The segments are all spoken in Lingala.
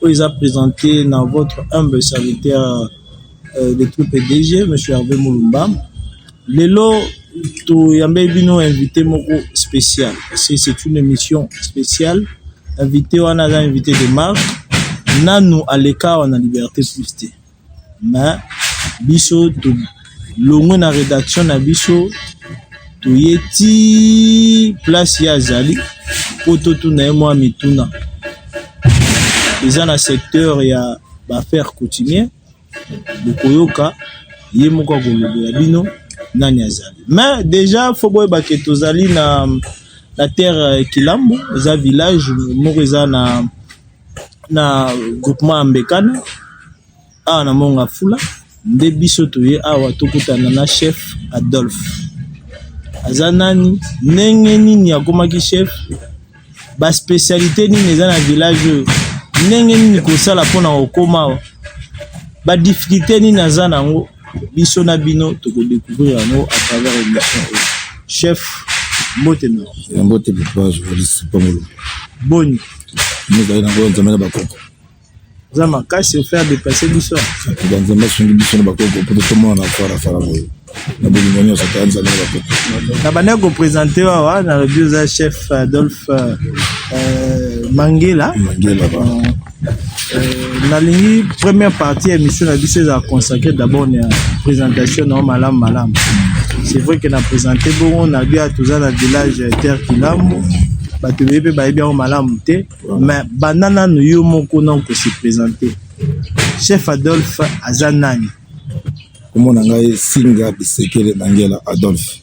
oyo eza presente na votre humble serviteur euh, de troupe DG monsieur Hervé Mulumba lelo toyambeli bino invité moko spécial parce que c'est une émission spéciale invité wana aza invité de marque nanu aleka awa na liberté plus te mais biso tolongwe na redaction na biso toye ti place ye azali mpo totuna ye mwa mituna eza na secteur ya baaffaire coutumier bokoyoka ye moko akolobela bino nani azali mais déjà fo boyeba ke tozali na na terre kilambo eza village moko eza na na groupement ya Mbekana awa na Mont Ngafula nde biso toye awa tokutana na chef Adolphe. Aza nani? Ndenge nini akomaki chef? Ba specialite nini eza na village oyo? Ndenge nini kosala mpona kokoma awa? Ba difficulté nini aza nango? biso na bino toko decouvrir yango à travers émission oyo chef mbote na yo mbote papa journaliste pamolo boni mozali na ngo nzambe na bakoko oza makasi ofaire depasse biso banzambe asungi biso na bakoko mpo totomona na farafara boye na bolingo nyonso ta nzambe na bakoko na bandaki kopresente wawa nalobi oza chef adolphe euh, mangela mangela ba. Euh, Euh, nalingi première partie ya émission na biso ezala consacré d'abord na présentation na yo malamu malamu c'est vrai que na présente bongo na bia toza na village terre kilambo bato ebele mpe bayebi yango malamu te mais banda nano yo moko na okose présente chef adolphe aza nani komona ngai singa bisekele mangela adolphe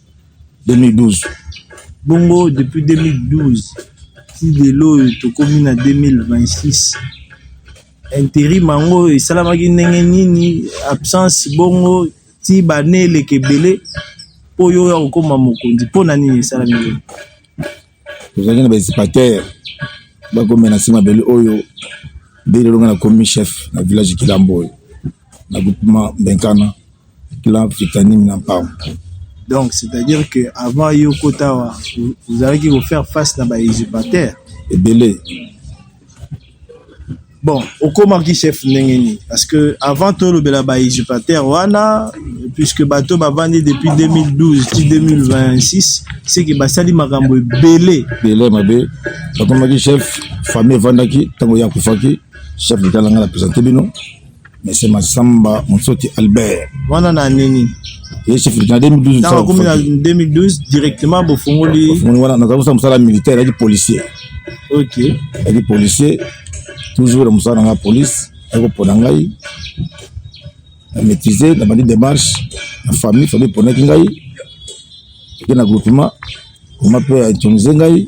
2012 bongo depuis 2012 ti lelo oyo tokomi na 2026 interim yango esalamaki ndenge nini absence bongo ti bane eleka ebele mpo yo oya kokoma mokonzi mpo na nini esalami tozalaki na bainsipatere bakomela na nsima bele oyo nde lelo ngai nakomi chef na village kilambo oyo na groupement benkana clan fitanime na mpango donc c'est-à-dire que avant yo kota awa ozalaki kofaire face na bainsipateurs ebele Bon, okomaki chef ndenge nini? Parce que avant tolobela ba usurpateurs wana, puisque bato bavandi depuis 2012 ti 2026, c'est que basali makambo ebele. Bele mabe, bakomaki chef, famille evandaki, ntango ye akufaki, chef de talanga na presente bino, Monsieur Massamba Monsoti Albert. Wana na nini? Ye chef na 2012. Tango komi na 2012 directement bofongoli. Bofongoli wana na kabusa musala militaire yaki policier. OK. Yaki policier toujours musala na police yako pona ngai na maîtriser na bandi démarche na famille famille ponaki ngai ke na groupement oma mpe ya intonise ngai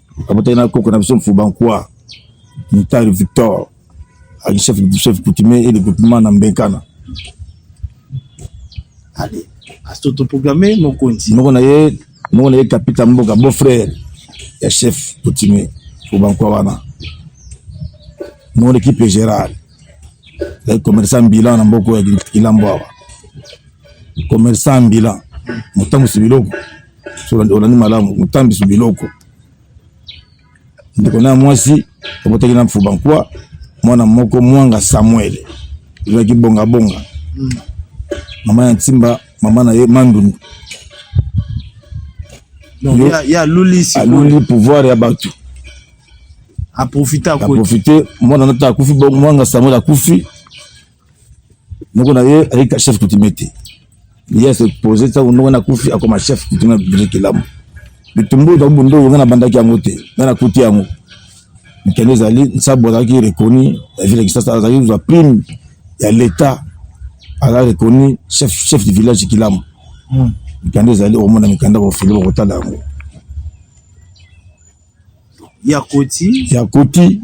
Abotaki na koko na biso Mfuba Nkwa Mutari Victor ali chef chef coutumier et de groupement na Mbenkana. Allez, à s'autoproclamer mokonzi. Moko na ye moko na ye kapita mboka beau frère ya chef coutumier Mfuba Nkwa wana. Mon équipe générale. Les commerçants bilan na mboko ya Kilambo awa. Commerçant bilan. Motambo sibiloko. olandi malamu motambisi biloko ndeko na ya mwasi abotaki na mfuba nkwa mwana moko mwanga samuel ezalaki bongabonga mm. mama ya ntimba mama na ye mandundu aluli pouvoir ya bato aprofite mwana nata akufi mwanga samuel akufi noko na ye ayika chef coutumier te ye ase pose ntango noko na kufi akoma chef coutumier ya biblia kelamu bitumbu ezali bondo oyo ngai nabandaki yango te ngai nakuti yango mikanda ezali nsabu azalaki reconi ya ville ya kisasa azalaki kozwa prime ya l'etat aza reconi chef, chef du village kilamu hmm. mikanda ezali okomona mikanda bofili bokotala yango ya koti ya koti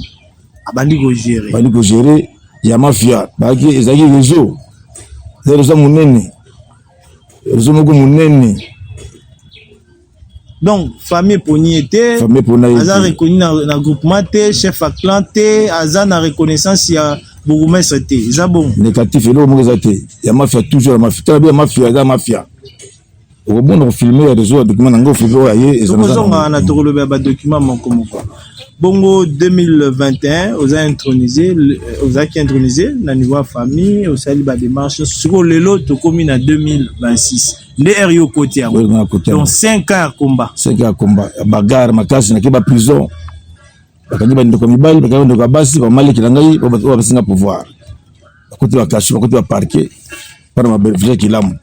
abandi ko gérer abandi ko gérer ya mafia baki ezaki rezo nde rezo monene rezo moko monene donc famille eponi ye te famille epona ye aza reconnu na, na groupement te chef ya clan te aza na reconnaissance ya bourgmestre te eza bongo négatif eloko moko eza te ya mafia toujours ya mafia tala bi ya mafia eza mafia okobonda kofilme ya rezo ya document na ngai ofilme oyo aye ezozonga wana tokolobela badocument moko moko bongo 2021 oza intronise euh, ozalaki intronise na niveau ya famille osali bademarche sikoyo lelo tokomi na 2026 nde heure yo okoti yango donc 5 ans ya combat 5 ans ya combat bagare makasi nake baprison bakangi bandeko ya mibali bakangi bandeko ya basi bamaleki na ngai oyo bapesi nga pouvoir bakoti bakasho bakoti baparke mpona mabeneficia kilamu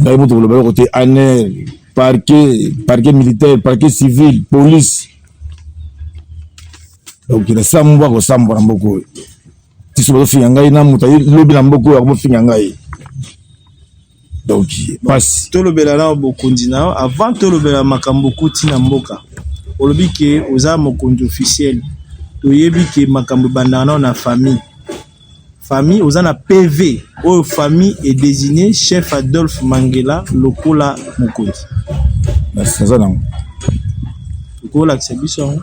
ngai moto koloba yoko te aner parke parke militaire parke civil police donc nasambwa kosambwa na mboka oyo tiso bazofinga ngai na moto lobi na mboka oyo akomofinga ngai donc pasi tolobela na bokonzi na yo avant tolobela makambo okuti na mboka olobi ke oza mokonzi officiel toyebi ke makambo ebandaka nao na famille famille oza na pv oyo famille est désigné chef adolphe mangela lokola mokonzi naza nango okolakisa biso yango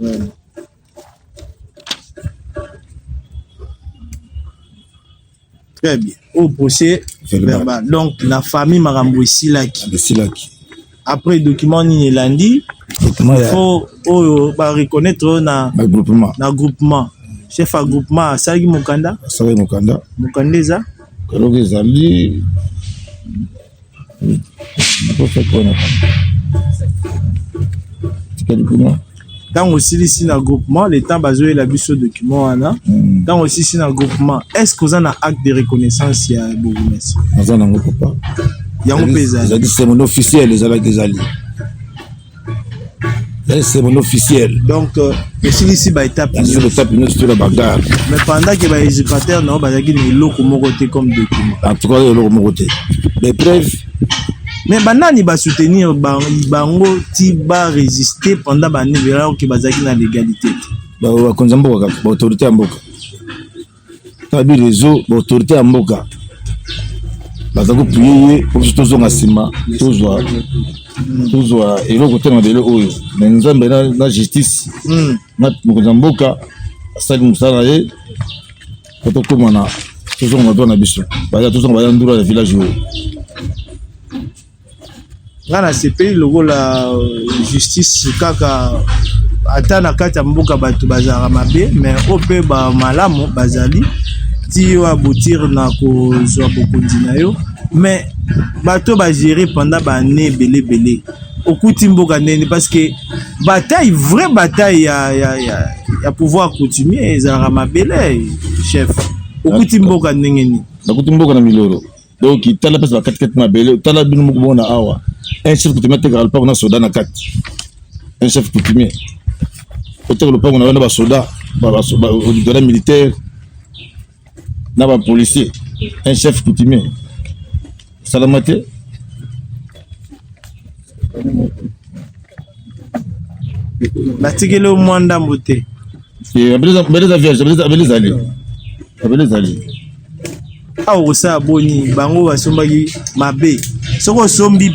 Mm. Très bien. Au procès verbal. verbal. Donc la famille Marambo esilaki. Esilaki. Après document nini elandi il faut oyo ba reconnaître oyo na na groupement. Na groupement. Chef ya groupement asalaki mokanda. Asalaki mokanda. Mokanda eza. Kaloka ezali ntango osilisi na groupement le temps bazoyela biso document wana ntango hmm. osilisi na groupement est ce que oza na acte de reconnaissance ya bourgmestre aza nango papa yango mpe ezali officiel ezalaki ezali Eh, c'est mon officiel donc euh, esilisi baétape baétape nyonso to na bagare mais pendant ke baéducateur na yo bazalaki na eloko moko te comme document en tout cas eloko moko te mais preuve mais banani basoutenir bango ti baresiste pendant banebelaki bazalaki na légalité te bakonzi ya mboka kaka baautorité ya mboka tabi reseau ba autorité ya mboka baza kopuye ye po biso tozonga nsima tozwa tozwa eloko te mabele oyo me nzambe na justice hmm. na mokonzi ya mboka asali mosala na ye po tokóma na tozonga na biso baya tozonga baya ndura ya village oyo nga nasepeli lokola euh, justice kaka ata na kati ya mboka bato bazalaka mabe me oyo mpe bamalamu bazali ti yo abotire na kozwa bokonzi na yo me bato bagere pendant baannée ebele ebele okuti mboka ndeni parce que bataille vraie bataille ya, ya, ya, ya pouvoir coutumier ezalaka mabele chef okuti mboka ndenge nini nakuti mboka na milolo donc tala place ba kati kati mabele tala bino moko bona awa un chef coutumier atekaka lopango na soda na kati un chef coutumier oteka lopango na yo na basoda basoda militaire na bapolicier un chef coutumier esalama te batikeli yo mwa ndambo te Eh, abeleza beleza vierge abeleza abeleza ali abeleza ali awa okosala boni bango basombaki mabe soki osombi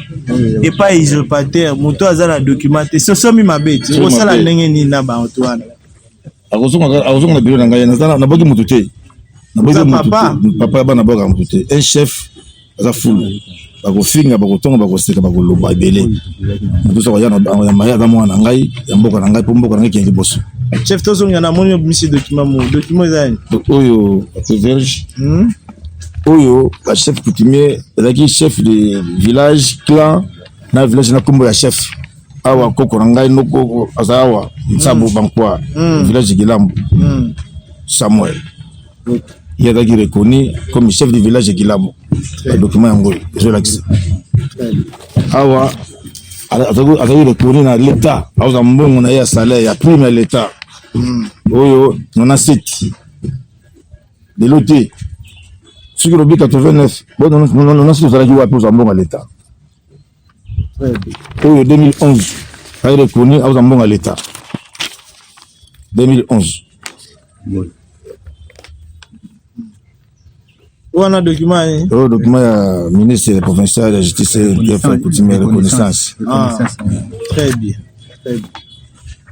epai usurpateur moto aza na document te si osombi mabe ti okosala ndenge nini na bato wana akozonga na biro na ngai naboki moto te papa ya bana boka moto te un chef baza fulu bakofinga bakotonga bakoseka bakoloba ebele motosa koya ya maye aza mwana na ngai ya mboka na ngai mpo mboka na ngai kende liboso chef tozonga na moni obimisi document mo document eza yani oyo verge hmm? oyo ba chef coutumier ezalaki chef de village clan na village na nkombo ya chef awa koko na ngai noko aza awa nsabu hmm. bankwa hmm. village gilambo samuel ye azalaki reconnu comme chef du village ya kilabo badocument yango oyo ezolakisa awa azalaki reconnu na leta aoza mbongo na ye ya salaire ya prime ya leta hmm. oyo nona seti lelo te soki olobi 89 nona seti ozalaki wapi oza mbongo ya leta oyo 2011 aye reconnu aoza mbongo ya leta 2011 wana document ye eh? oyo document ya ministre ya provincial ya justice dfa coutume ya reconnaissance ah, très bien très bien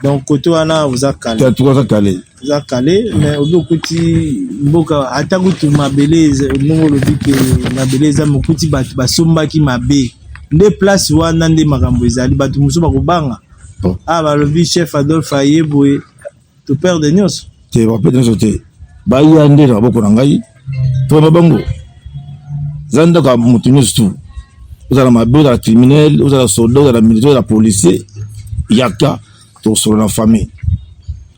donc côté wana oza kale oza kale eza kale me obi okuti mboka ata kutu mabele ndenge olobi ke mabele eza mokuti bato basombaki mabe nde place wana nde makambo ezali bato mosusu bakobanga oh. a ah, balobi chef adolphe aye boye toperde nyonso te baperde nyonso te baya nde na maboko na ngai tona bango eza ndako ya moto nyonso tu ozala mabe ozala criminel ozala soldat ozala militaire ozala policier yaka tosolo na famille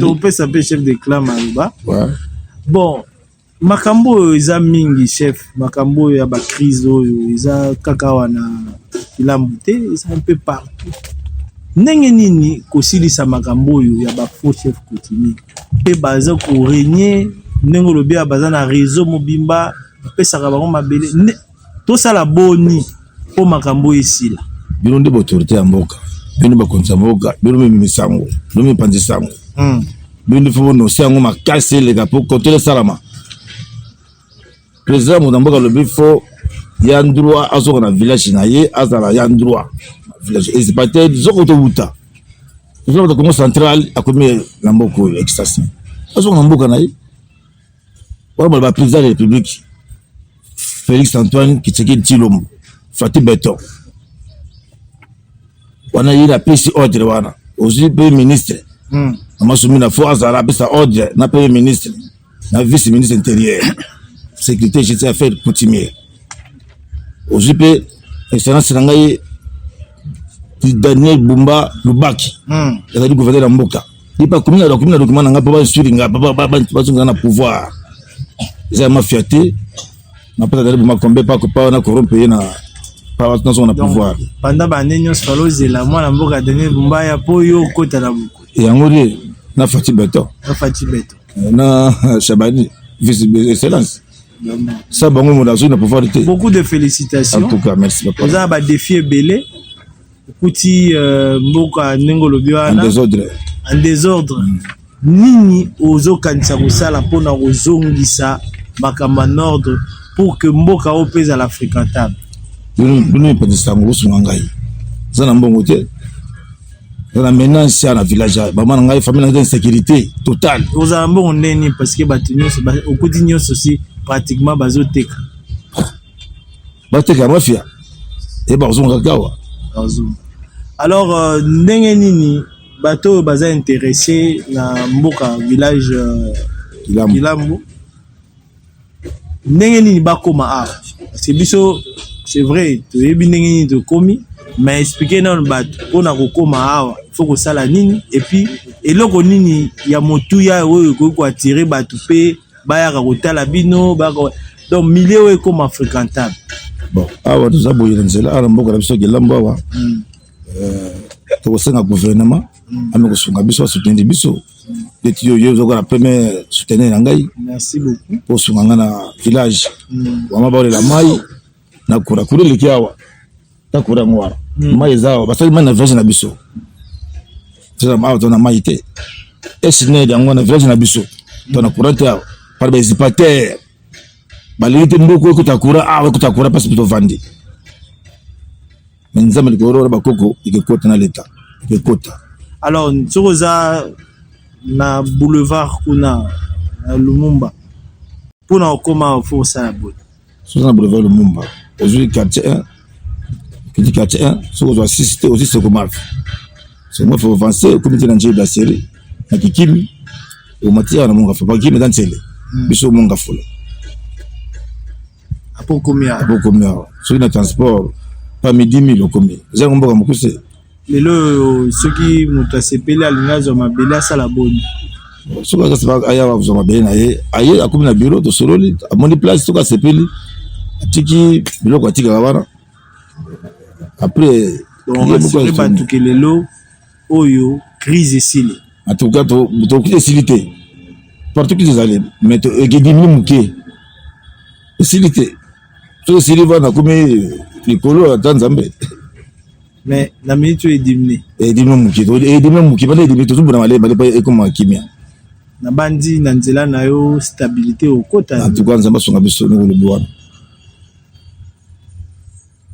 topesa mpe chef de clan maloba bon makambo oyo eza mingi chef makambo oyo ya bacrise oyo eza kaka wana kilambu te eza mpe partout ndenge nini kosilisa makambo oyo ya bafaux chef coutumier mpe baza koregne ndenge olobi ya baza na réseau mobimba bapesaka bango mabele tosala boni mpo makambo oyo esila bino nde baautorité ya mboka bino bakonzi ya mboka bino mimimi sango bino mipanzi sango hmm. bino nde fo bonose yango makasi eleka mpo kontele esalama président moto ya mboka alobi fo ya ndroit azoka na village na ye azala ya ndroit village ezipa te zoko towuta ezokota congo central akomi na mboka oyo ekisasi azoka na mboka na ye Voilà, président de la République, Félix Antoine Kitsekedi Tshilombo, Fatih Beton. wana ye napesi ordre wana ozwi mpe ministre hmm. amasumi na fo azala apesa ordre na premier ministre na vice ministre intérieur sécurité jeti affaire coutumier ozwi mpe excellence na ngai daniel bumba lubaki hmm. ezali gouverneur ya mboka Lipa komi na document na document na nga papa suivre nga papa ba ba ba sunga na pouvoir. Eza ma fierté. Na pata dali buma kombe pa ko pa na corrompre na pa ba tunso na pouvoir. Pendant ba nene nyos falo zela mwana mboka Daniel Bumba ya po yo kota na buku. Yango de na Fati Beton. Na Fati Beton. Eh, na Shabani vice excellence. Ça bango mo na zona pouvoir te. Beaucoup de félicitations. En tout cas merci papa. Oza ba défi ebele. okuti euh, mboka ndenge olobi wana en desordre mm. nini ozokanisa kosala mpo na kozongisa makambo en ordre pour que mboka oyo mpe ezala fréquentable bino epatisa yango bosunga ngai eza na mbongo te eza na maintenance ya na village ya bama na ngai famille na ngai insécurité totale ozala mbongo ndenge nini parce que bato nyonso okuti nyonso si pratiquement bazoteka bateka mafia e bakuzonga kaka awa alors euh, ndenge nini bato oyo baza interesse na mboka village euh, kilambo ndenge nini bakoma awa parce biso c'est vrai toyebi ndenge nini tokomi mais explike nano bato mpona kokoma awa faut kosala nini epuis eloko nini ya motuya oyo ekoki koatire bato mpe bayaka kotala bino bako donc milieu oyo ekoma fréquentable bon awa toza boye na nzela awa na mboka na biso kelambo awa mm. euh, tokosenga gouvernement mm. ame kosunga biso asoutenir biso ndeti yo yo ozokola premier soutenir na ngai osunga ngai na village mm. wama baolela mai na kura kura eleki awa na kura yango wana hmm. mai eza awa basali mai na village na biso awa to na mai te esned yango wana village na biso to na kura te awa par baezipatere balingi te mboka ekuta kura awa ekuta kura mpasi mpe tovandi me nzambe likolo wana bakoko ekekota na leta ekekota alors soki oza na boulevard kuna na lumumba mpo na kokoma mpo osala boye soki na boulevard lumumba ozwi quartier 1 kiti quartier 1 soki ozwa 6 te ozwi sekomafi sekomafi ovance okomi te na njei brasserie na kikimi omati awa na mongafula mpo kikimi eza nsele hmm. biso mongafula apo okomi awa soki na transport pa midi mile okomi eza yango mboka mokuse lelo oyo soki moto asepeli alingi azwa mabele asala boni soki azasepaka aya azwa mabele na ye aye akomi na biro tosololi amoni place soki asepeli atiki biloko atikaka wana après rasure bato ke lelo oyo crise esili en tout cas tokoki esili te partout crise ezali mais ekedimini moke esili te soki esili vana akomi likolo ata nzambe mais na minute oyo edimni edimni moke edimni moke bana edimni tozobona malemba lepa ekoma kimia nabandi na nzela na yo stabilité okota en tout cas nzambe asunga biso ndenge olobi wana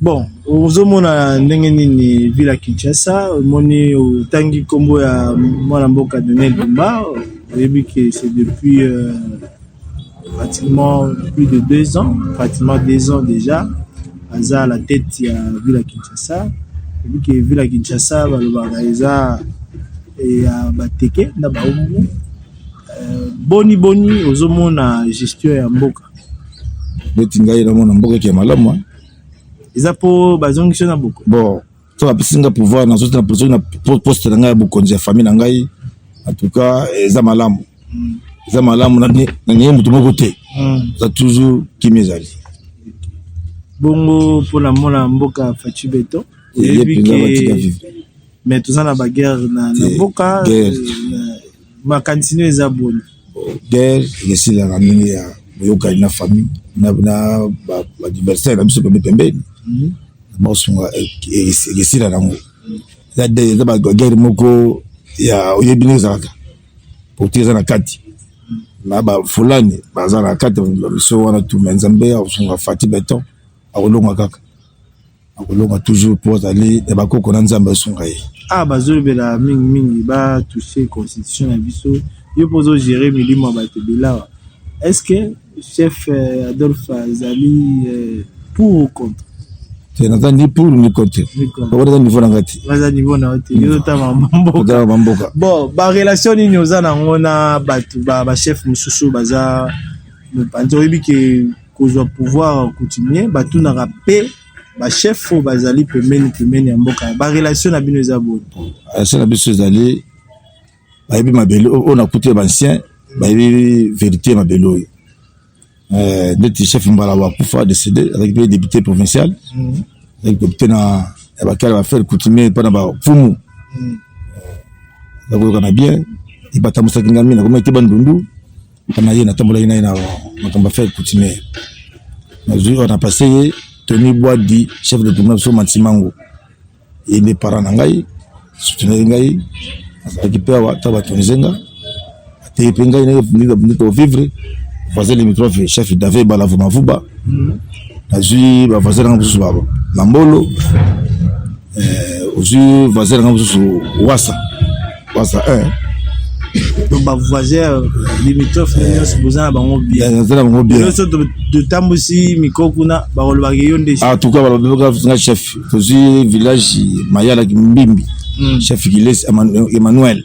bon ozomona ndenge nini villa kinshasa omoni otangi nkombo ya mwana mboka donel dumba oyebi ke c'est depuis euh, pratiquement plus de deux ans, pratiquement deux ans déjà, aza à la tête ya ville ya Kinshasa. Vu que ville ya Kinshasa balobaka eza ya bateke na baumbu, euh, boni boni ozomona gestion ya mboka neti ngai namona mboka eke malamu hein? eza mpo bazongisi yo na boko bon so bapesi ngai pouvoir nazoti na soki na poste na ngai ya bokonzi ya famille na ngai en tout cas eza malamu eza malamu nanie moto moko te hmm. eza toujours kimi ezali bongo mpona mona mboka faci beton oyebi ke mais toza na baguerre na mboka makanisi no eza boni guerre esilaka ndenge ya boyokani na famille na badiversaire na biso pembe pembeni mhm. baosunga e, e, e, esila nango eza baguerre moko ya oyebi ndenge ezalaka pourti eza na kati na bafulani baza na kati bamiso wana tuma nzambe akosunga fati beton akolonga kaka akolonga toujours mpo azali ya bakoko na nzambe asunga ye ah bazolobela mingi mingi ba touche constitution na biso yo mpo ozogere milimo ya bato bilawa est ce que chef euh, adolphe azali euh, pour ou contre te naza ni pour ni contre bango naza niveau na ngai te naza niveau na yo te yo otanga mboka bamboka bon barelation nini oza nango na bato bachef mosusu baza mopanzi oyebi ke kozwa pouvoir coutumier batunaka pe ba chef oyo bazali pembeni pembeni ya mboka ba relation na bino eza boni relation na biso ezali bayebi mabele oyo nakuti ya bancien bayebi verité ya mabele oyo euh, ndeti chef mbala wakufa décédé azalaki mpe député provincial mhm. azalaki député na ya bakala bafere coutumier mpo na bafumu mhm. nakoyokana bien ebatambusaki ngai mingi nakomaki te bandundu epa na ye natambolaki na ye na makambo affaire coutumière nazwi wana pase ye tony bwadi chef de tourna biso mansimango ye nde parent na ngai soutenaki ngai azalaki mpe awa ta batonise nga ateye mpe ngai nde tovivre voisin limitrophe chef dave balavumavuba nazwi bavoisin nanga mosusu na mbolo eh, ozwi voisin nanga mosusu wasa Basa eh. Donc ba voisins limitrophes eh. nyonso boza na bango bien. Eh, boza na bango bien. Nyonso totambusi mikro kuna bakolobaka yo nde. Ah, en tout cas balobaka nga chef tozwi village Mayala Kimbimbi. Mm. Chef Kilesi Emmanuel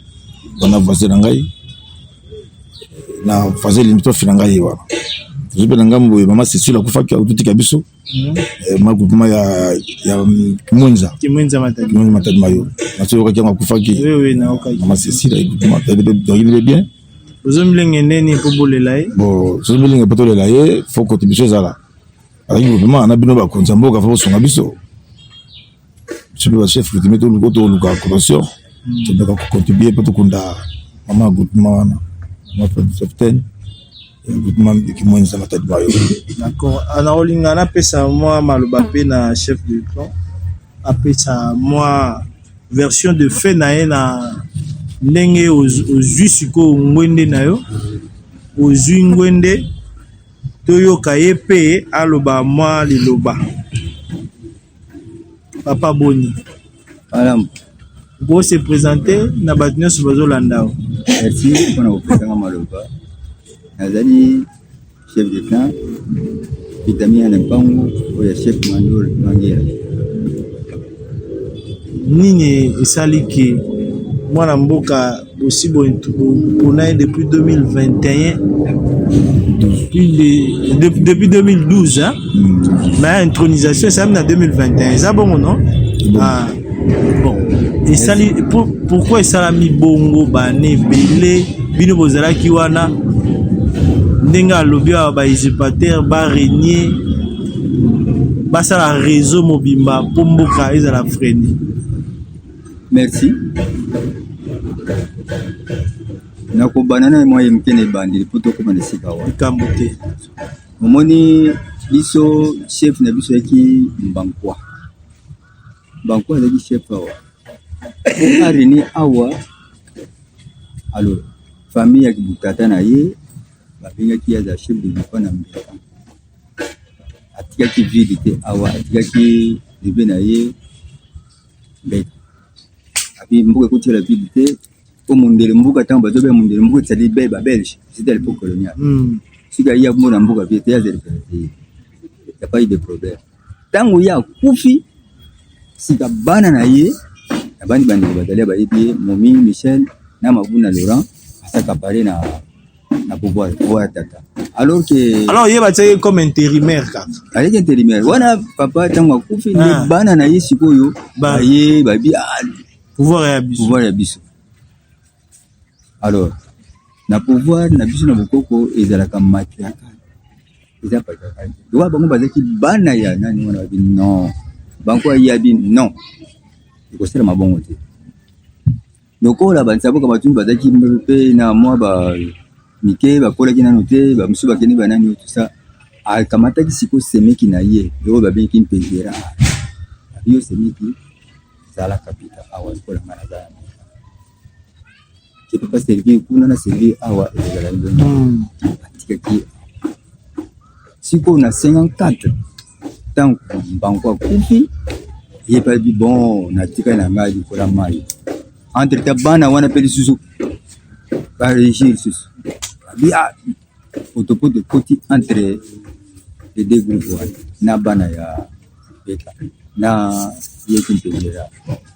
wana voisin na ngai na voisin limitrophe na ngai wana tozwi mpe na ngambo boye mama Cecile akufaki akutika biso Mhm. Eh, ma groupement ya ya kimwenza kimwenza matadi kimwenza matadi mayo naso yokaki yango akufaki oui oui na okaki na masisi la groupement elle est bien ozo milenge nene po bolela ye bon ozo milenge po tolela ye faut kote biso ezala alaki groupement na bino bakonzi ya mboka faut kosunga biso biso mpe bachef coutumier toluka toluka cotation tondaka kocontribue mpo tokunda mama ya groupema wana capitaine groupema kimwenisa matadi mayo d'accord ana olinga napesa mwa maloba mpe na chef de plan apesa mwa version de fait na ye na ndenge ozwi sikoyo ngwende na yo ozwi ngwende toyoka ye mpe aloba mwa liloba papa boni malamu bo se présenter na bato nyonso bazolanda yo merci mpona kopesanga maloba nazali chef de clan vitamia na mpango oyo ya chef mandol mangela nini esali ke mwana mboka Bosi bo pona ye depuis 2021 depuis, depuis 2012 hein? Mm. mais intronisation esami na 2021 eza bongo non bon. Ah, bon esali pour, pourquoi esalami bongo bana ebele bino bozalaki wana ndenge alobi awa ba usurpateur ba renier basala réseau mobimba mpo mboka ezala frene Merci. nakobana na mwa ye moke na ebandeli mpo tokoma na esika wana likambo te omoni biso chef na biso yaki mbankwa mbankwa azalaki chef awa areni awa alo famille ya kibutata na ye babengaki ye aza chef de lipa na mbeka atikaki vide te awa atikaki bebe na ye Mbete. Api mboka ekotela vide te po mondele mboka ntango bato baya mondele mboka etali be ba belge c'était à l'époque coloniale mm. soki ayi akomona mboka vie te azali pene te ya pas eu de problème ntango ye akufi sika bana na ye na bandi bandeko bazali bayebi ye momi michel na mabuna laurent asaka pare na na pouvoir oya tata alors que alors ye batiaki comme intérimaire kaka aleki intérimaire wana papa ntango akufi nde ah. bana na ye sikoyo baye babi ah, pouvoir ya biso pouvoir ya biso alors na pouvoir na biso na bokoko ezalaka matriarcal eza patriarcal lokola bango bazalaki bana ya nani wana babi non bango ayiabi non ekosalama bongo te Lokola bansaboka batundu bazalaki mpe na mwa ba mike bakolaki nano te bamosusu bakende banani oyo tusa akamataki sikoyo semeki na ye oyo babengaki mpe vera yo semeki zala kapita awa lokola ngai naza ya mika je peux pas servir kuna na servir awa ezala ndenge atikaki sikoyo na 54 ntango mbangu akufi ye mpe alobi bon natikali na ngai likola mai entre ta bana wana mpe lisusu baregie lisusu abi a ah, potopoto ekoti entre le deux groupe wana na bana ya beta na yeki mpendela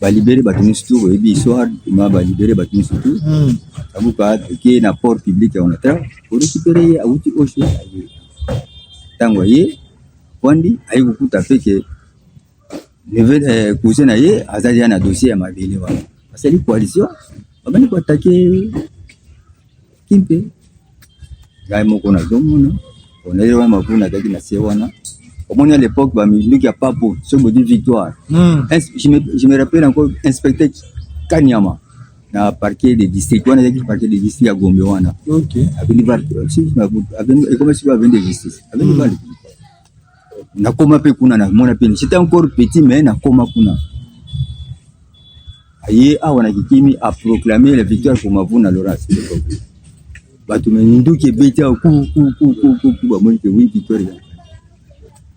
balibere bato nyonso tu boyebi histoire ma balibere bato nyonso tu hmm. abuka toke na port public ya onatra korekipere ye awuti osho aye ntango aye wandi aye kokuta mpe ke eh, cousin na ye azali ya na dossier ya mabele wana asali coalition babandi koatake kimpe ngai moko nazomona oneli wana mabuna azalaki na se wana omoni à l'époque baminduki ya papo soki bodi victoire hmm. je me rappelle encore inspecteur kanyama na parquet de district wana ezalaki parquet de district ya gombe wana avenue val euh, ekomi siko avenue de justice avenue hmm. val nakoma mpe kuna na mona mpe j'étais encore petit mais nakoma kuna aye awa na kikimi a proclamer la victoire pour Mavuna Laurence bato me minduki ebeti awa kukukukuku bamoni ke oui victoire ya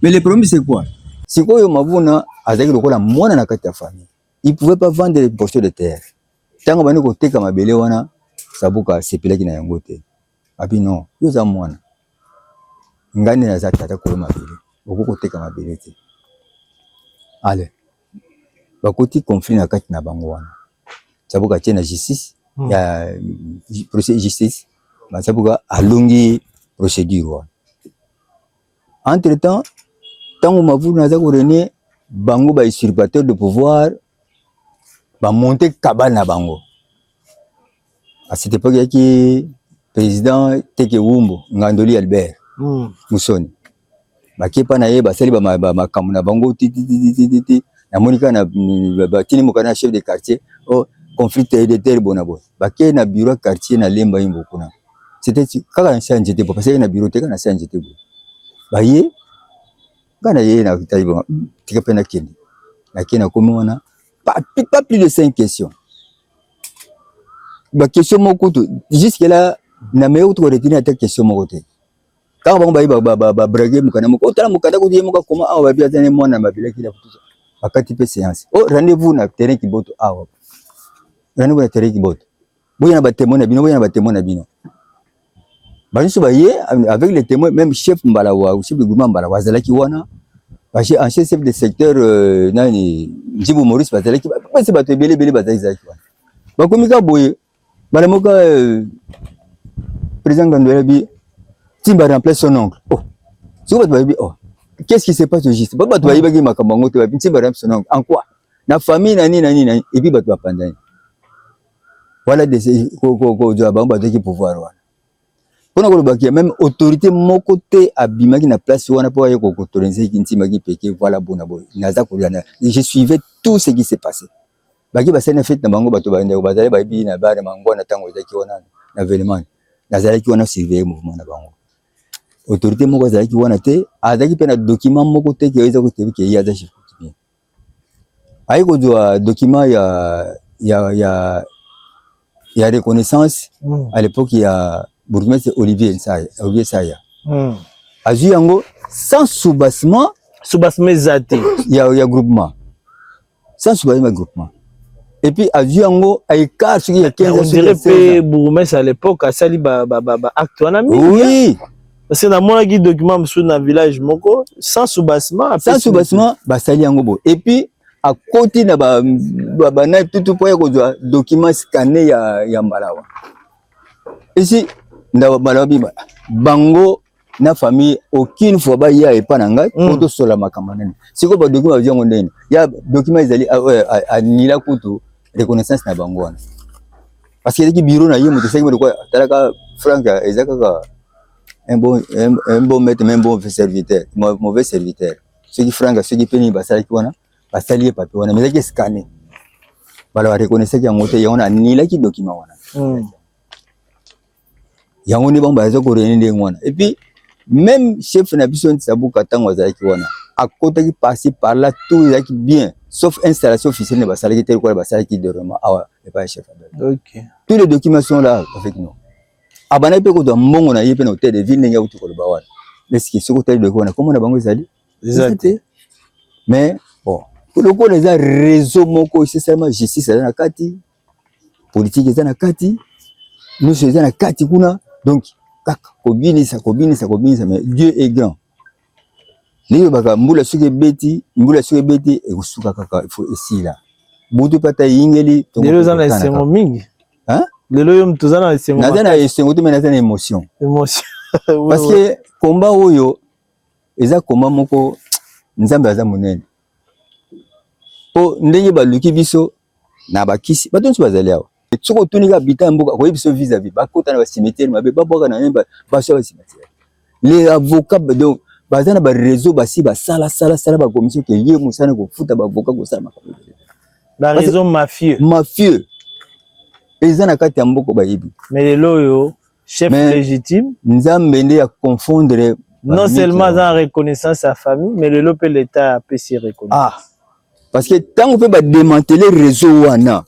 mais le problème c'est quoi sikoyo Mavuna azalaki lokola mwana na kati ya famille il pouvait pas vendre les morceaux de terre ntango bandi koteka mabele wana sabuka asepelaki na yango te abi non yo oza mwana ngai nde naza tata kolo mabele okoki koteka mabele te ale bakoti conflit na kati na bango wana sabuka atie na justice hmm. ya procès justice sabuka alongi procédure wana entre temps ntango mavulu naza korene bango ba usurpateur de pouvoir ba monte cabane na bango à cette époque yaki président teke wumbu ngandoli albert mm. musoni bakepa na ye basali makambo na bango tititititi namoni kaka batini moka na chef de quartier o oh, conflit de terre bona boye bakei na bureau quartier na lemba ye mbo kuna c'était kaka na change te parce que na bureau te kaka na change te boye baye nga na ye na tali ba hmm, tika pe na kende na kende akomi wana pas pas plus de cinq questions ba question moko to jusque là na meyo kutu ko retenir ata question moko te kaka bango baye babrage mokanda moko otala mokanda kutu ye moko akoma awa babi aza ne mwana mabelaki na kutu bakati mpe seance o oh, rendez-vous na terrain kiboto awa rendez-vous na terrain kiboto Boya na ba témoins na bino, boya na ba témoins na bino. Ba nyoso ba ye avec les témoins, même chef Mbalawa, chef de groupement Mbalawa azalaki wana. Ba chef en chef de secteur euh, nani Njibu Maurice bazalaki ba pesa bato ebele ebele bazalaki zalaki wana. Ba komi ka boye bala moka euh, président Ngandwela bi timba remplace son oncle. Oh. Siko bato bayebi oh. Qu'est-ce qui se passe au juste? Ba bato bayebaki makambo yango te ba timba remplace son oncle. En quoi? Na famille na nini na nini na nini. Et puis bato bapandani. wana kozwa bango bazwaki pouvoir wana mpona kolobaki meme autorité moko te abimaki na place wana mpo aye kokotolenze ntimaki peke voilà bona boye naza kolanda je suivais tout ce qui se passait baki basali na fete na bango bato bandeko bazali bayebi na bare mango na ntango ezalaki wana na velemani nazalaki wana surveille mouvement na bango autorité moko azalaki wana te azalaki mpe na document moko te ke eza kotebi ke ye aza chef aye kozwa document ya, ya, ya, ya reconnaissance mm. à l'époque ya bourgmestre Olivier Nsaya, Olivier Saya mm. azwi yango sans soubassement soubassement eza te ya, ya groupement sans soubassement ya groupement et puis azwi yango à écart soki ya 15 on dirait pe bourgmestre à l'époque asali ba, ba, ba, ba acte wana mingi oui parce que namonaki document mosusu na village moko sans soubassement sans soubassement basali yango boye et puis akoti na bana tutu mpo ya kozwa document scanne ya, ya mbalawa esi ndaba mbalawa bima bango na famille aucune fois baya epa na ngai mpo mm. tosola makambo nene sikoyo badocument bazwi yango ndeni ya document ezali anila ah, ah, ah, kutu reconnaissance na bango wana parce que ezalaki biro na ye moto esengi moto talaka frank eza kaka un bon, un, un bon maître mais un bon serviteur mauvais serviteur soki frank soki mpe nini basalaki wana basali ye papier wana mais ezalaki escane bala bareconnaissaki yango te yango na anilaki document wana mm. yango nde bango baza korene ndenge wana epuis meme chef na biso ntisabuka ntango azalaki wana akotaki parci par là tout ezalaki bien sauf installation officielle ne basalaki te lokola basalaki dorement awa epai ya chef okay. tous les documents sont là avec nous abandaki mpe kozwa mbongo na ye mpe na hotel de ville ndenge akuti koloba wana eske soki otali doki wana komona bango ezali eza te mais bon lokola eza réseau moko esesalema justice aza na kati politique eza na kati nyonso eza na kati kuna donc kaka kobinisa kobinisa kobinisa mais Dieu est grand niyebaka mbula soki ebeti mbula soki ebeti ekosuka kaka ifo esila butu pata eyingeli lelo eza na esengo mingi lelo yo moto oza na esengo naza na esengo te me naza na émotion émotion parce que komba oyo eza komba moko nzambe aza monene po ndenge baluki biso na bakisi bato nyonso bazali awa soki otuni kaka bita ya mboka akoyebi biso visa vie bakota na bacimetiere mabe babwaka na ye baswa bacimetiere le avocat donc baza na bareseau basi basala sala sala bakomiso ke ye mosala kofuta baavocat kosala makambo bareseau mafieux mafieux eza na kati ya mboka bayebi me lelo oyo chef mais, légitime nzambe nde ya confondre non seulement aza reconnaissance ya famille mais lelo mpe l'état apesi reconnaissance ah. parce que ntango mpe bademantele réseau wana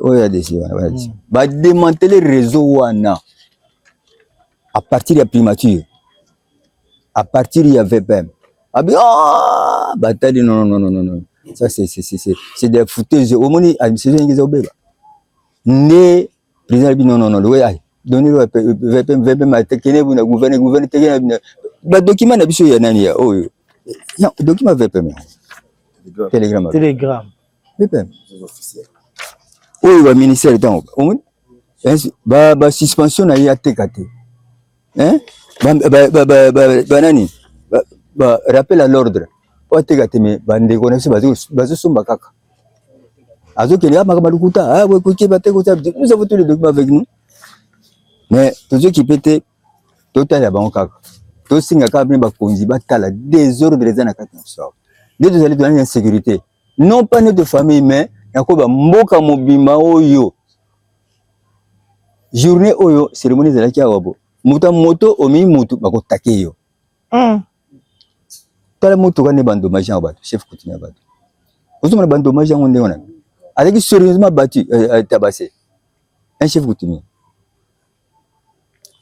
oyo ya desi bademantele réseau wana à partir ya primature à partir ya vpm abi ah, batali non, non, non, non, non. ça c'est des fouteuses omoni administration ingeza obeba nde president alobi non non non lokola ay doni lokola vpm atekene buna gouverne gouverne tekene bina badokima na biso ya nani ya oyo non dokima vpm telegram telegram vpm oyo baministère ntango omoni ba suspension na ye ateka te hein ba ba ba ba, ba, ba nani ba, ba rappel à l'ordre wateka te mais ba ndeko na biso bazo bazo somba kaka azo kende kama kama lukuta ah we kuki ba teko ça nous avons tous les documents avec nous mais tozo kipe te totala bango kaka tosinga kaka mpe bakonzi batala desordre eza na kati na biso nde tozali tozali na insécurité non pas notre famille mais nakoba mboka mobimba oyo journée oyo cérémonie ezalaki awa bo moto moto omi moto bakotake yo mm. tala motuka nde bandomage yango bato chef coutume ya bato ozomona bandomage yango ndenge wana azalaki sérieusement battu euh, euh, tabase un chef coutumier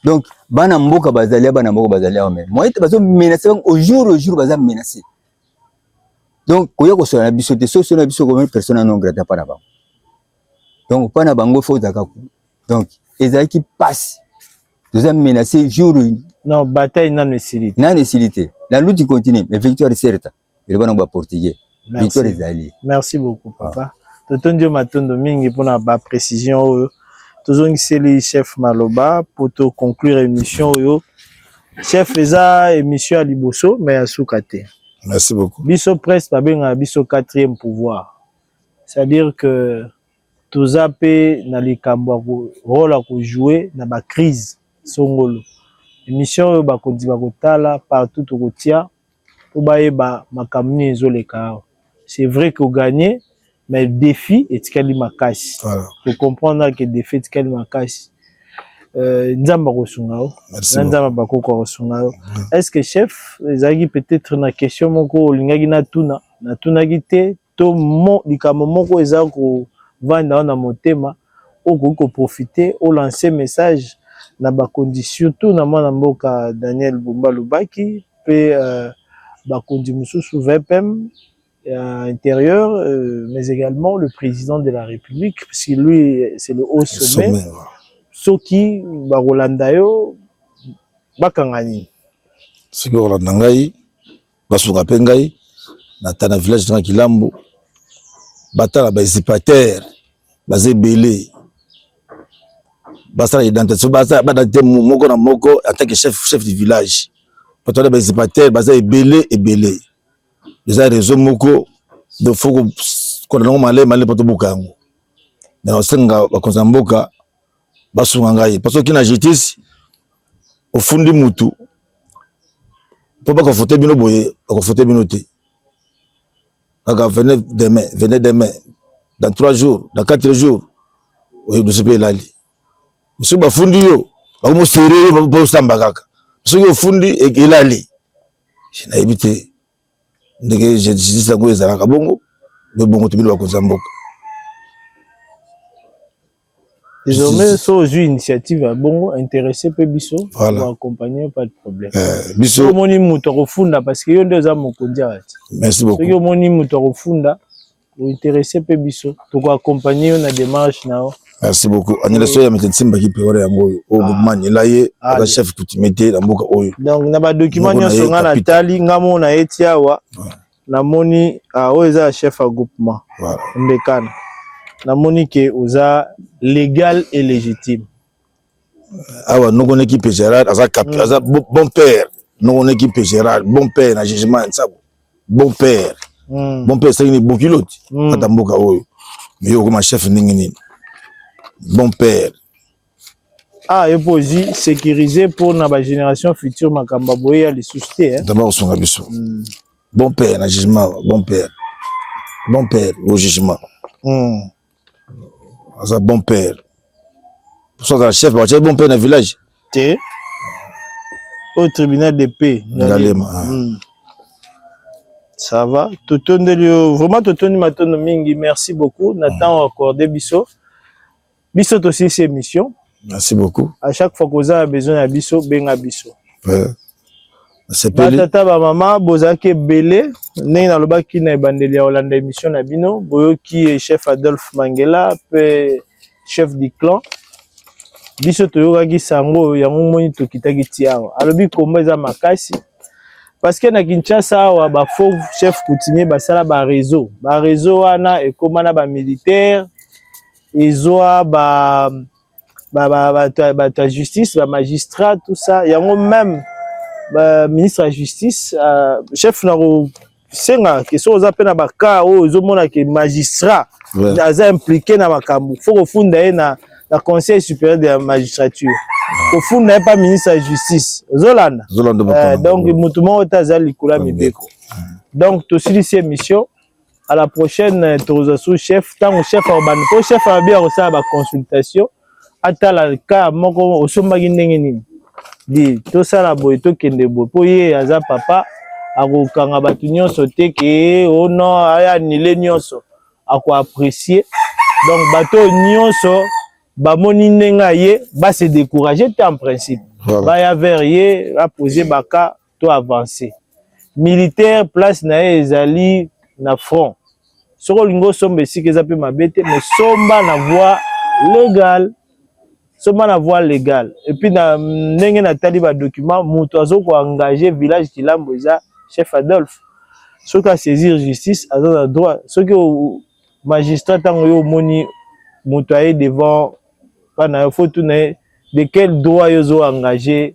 Donc bana mboka bazali bana mboka bazali awa mais moyen te bazo menacer bango au jour au jour baza menacer. Donc koya kosola na biso te soso na biso comme personne non grata pa na bango. Donc pa na bango faut zaka ko. Donc ezalaki passe. Toza menacer jour non bataille nanu esili. Nanu esili te. La lutte continue mais victoire est certaine. eloba nango ba portugais victoire ezali merci beaucoup ah. papa totondi yo matondo mingi mpona ba précision oyo tozongiseli chef maloba mpo to conclure émission oyo chef eza émission ya liboso mais ya suka te merci beaucoup biso presse babengaka biso quatrième pouvoir c'est à dire que toza mpe na likambo ya role ya kojoue na bacrise songolo émission oyo bakonzi bakotala partout tokotia po bayeba makambo nini ezoleka awa c'est vrai ko gagne mais defi etikali makasi ko comprendre ke defi etikali makasi euh, nzambe akosunga yo na nzambe bakoko akosunga yo est ce que chef ezalaki peut-être na question moko olingaki natuna natunaki te to mo, likambo moko eza kovanda yo na motema oyo okoki ko profiter o lancer message na bakonzi surtout na mwana mboka Daniel Bumba Lubaki mpe bakonzi mosusu VPM ya interieur mais egalement le president de la Republique puisque lui c'est le haut sommet soki bakolanda yo bakanga nini? Soki bakolanda ngai. basuka mpe ngai nata na village tanga kilambo batala ba usurpateur baza ebele basala identification basala badate moko na moko en tant que chef chef du village bato wana ba usurpateur baza ebele ebele eza réseau moko donc faut kolanda yango malayi malayi mpo tobuka yango na osenga bakonzi ya mboka basunga ngai parce que na justice ofundi mutu mpo bakofote bino boye bakofote bino te kaka venez demain venez demain dans trois jours dans quatre jours oyo biso mpe elali biso bafundi yo bakomosere yo mpo osamba kaka soki ofundi elali nayebi te ndenge justice yango ezalaka bongo nde bongo tobino bakonzi ya mboka désormais so ozwi initiative ya bongo interesse mpe biso accompagner pas de problème eh, biso omoni moto akofunda parce que yo nde oza mokonzi ya kati soki omoni moto akofunda o interesse mpe biso toko accompagner yo na démarche na yo merci beaucoup anyela soya mete nsimba ki pewara yango oyo oyo gouvernement anyela ye aza chef coutumier te na mboka oyo donc na ba document nyonso nga na tali nga mo na ye ti awa namoni ah, oyo eza ya chef ya groupement mbekana namoni ke oza légal et légitime awa noko neki pe Gerard aza cap mm. aza bon père noko neki pe Gerard bon père na jugement ya nsago bon père mm. bon père esengi ni bokiloti mm. ata mboka oyo mais yo okoma chef ndenge nini bon père ah yo mpo ozwi sécurise mpo na bagénération future makambo ya boye ya lisusu te eh? dama kosunga biso mm. bon père na jugement bon père bon père au jugement mm. aza bon père so azala chef bakotia bon père na village te au tribunal de paix ngalema ah. hmm. ça va totondeli yo vraiment totondi matondo mingi merci beaucoup na hmm. temps accordé biso biso tosilisi émission Merci beaucoup. À chaque fois que a besoin ya biso, benga biso. Ouais. batata bamama bozalaki ebele ndenge nalobaki na ebandeli ya kolanda émission na bino boyoki chef adolphe mangela mpe chef du clan biso toyokaki sango oyo yango moni tokitaki ti awa alobi komba eza makasi parce que na kinshasa awa bafaux chef coutumier basala bareseau bareseau wana ekóma na bamilitaire ezwa ba ba ba ba, ba, ba justice ba magistrat tout ça yango même ba ministre ya justice uh, chef na ko senga ke soki oza mpe na bakaa oyo ezomona ke magistrat ouais. aza impliqué na makambo fo kofunda ye na, na conseil supérieur de la magistrature kofunda ye mpa ministre ya justice ozolanda euh, donc motu moko te aza likolo ya mibeko donc tosilisi émission à la prochaine euh, tokozwa sous chef ntango chef akobanda mpo chef alobi akosala baconsultation atala ka moko osombaki ndenge nini di tosala boye tokende boye mpo ye aza papa akokanga bato nyonso te ke o oh non aya anile nyonso akoapprécie donc bato oyo nyonso bamoni ndenge aye base décourage te en principe baya vers ye apose baka to avancer militaire place na ye ezali na front soki olingi osomba esika eza mpe mabe te mais somba na voie légale somba na voie légale epuis na ndenge natali badocument moto azo koengage village kilambo eza chef adolphe soki asaisir justice aza na droit soki magistrat ntango yo omoni moto aye devant mpa na yo fo tuna ye de quel droit yo ozo engage